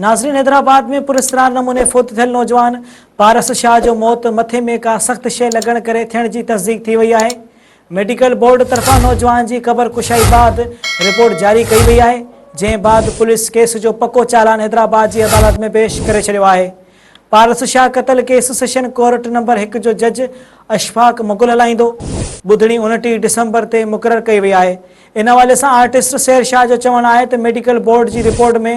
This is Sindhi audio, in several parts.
ناظرين حيدرآباد ۾ پراسرار نموني فوت ٿيل نوجوان پارس شاهه جو موت مٿي ۾ ڪا سخت شيء لڳڻ ڪري ٿيڻ جي تصديق ٿي وئي آهي ميڊيڪل بورڊ طرفان نوجوان جي قبر ڪشائي بعد رپورٽ جاري ڪئي وئي آهي جنهن بعد پوليس ڪيس جو پڪو چالان حيدرآباد جي عدالت ۾ پيش ڪري ڇڏيو آهي پارس شاهه قتل ڪيس سيشن ڪورٽ نمبر هڪ جو جج اشفاق مغل هلائيندو ٻڌڻي انٽيهه ڊسمبر تي مقرر ڪئي وئي آهي ان حوالي سان آرٽسٽ سحر شاهه جو چوڻ آهي ته ميڊيڪل بورڊ جي رپورٽ ۾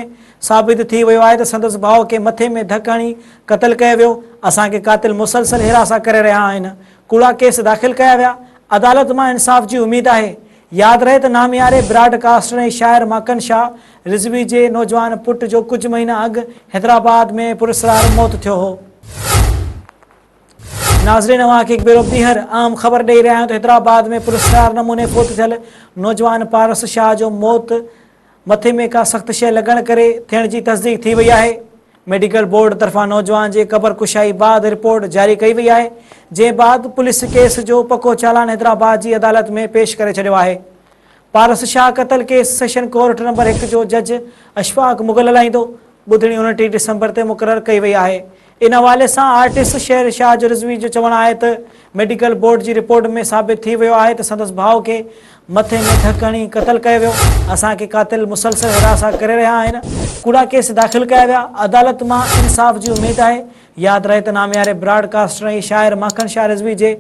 ثابت ٿي ويو آهي ته سندس ڀاء کي مٿي ۾ ڌڪ هڻي قتل ڪيو ويو، اسان کي قاتل مسلسل هراسان ڪري رهيا آهن، ڪوڙا ڪيس داخل ڪيا ويا، عدالت مان انصاف جي اميد آهي. ياد رهي ته نامياري براڊ ڪاسٽر ۽ شاعر ماڪن شاهه رضوي جي نوجوان پٽ جو ڪجهه مهينا اڳ حيدرآباد ۾ پراسرار موت ٿيو هو. ناظرين اوهان کي هڪ ڀيرو ٻيهر عام خبر ڏئي رهيا آهيون ته حيدرآباد ۾ پراسرار نموني فوت ٿيل نوجوان پارس شاهه جو موت مٿي ۾ ڪا سخت شيء لڳڻ ڪري ٿيڻ جي تصديق ٿي وئي آهي ميڊيڪل بورڊ طرفان نوجوان جي قبر ڪشائي بعد رپورٽ جاري ڪئي وئي آهي جنهن بعد پوليس ڪيس جو پڪو چالان حيدرآباد جي عدالت ۾ پيش ڪري ڇڏيو آهي پارس شاهه قتل ڪيس سيشن ڪورٽ نمبر هڪ جو جج اشفاق مغل هلائيندو ٻڌڻي انٽيهه ڊسمبر تي مقرر ڪئي وئي آهي ان حوالي سان آرٽسٽ شير شاهه جو رضوي جو چوڻ آهي ته ميڊيڪل بورڊ جي رپورٽ ۾ ثابت ٿي ويو آهي ته سندس ڀاء کي مٿي ۾ ڌڪ هڻي قتل ڪيو ويو، اسان کي قاتل مسلسل هراسان ڪري رهيا آهن، ڪوڙا ڪيس داخل ڪيا ويا، عدالت مان انصاف جي اميد آهي، ياد رهي ته نامياري براڊ ڪاسٽر ۽ شاعر ماکڻ شاهه رضوي جي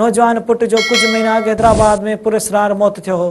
نوجوان پٽ جو ڪجهه مهينا اڳ حيدرآباد ۾ پراسرار موت ٿيو هو.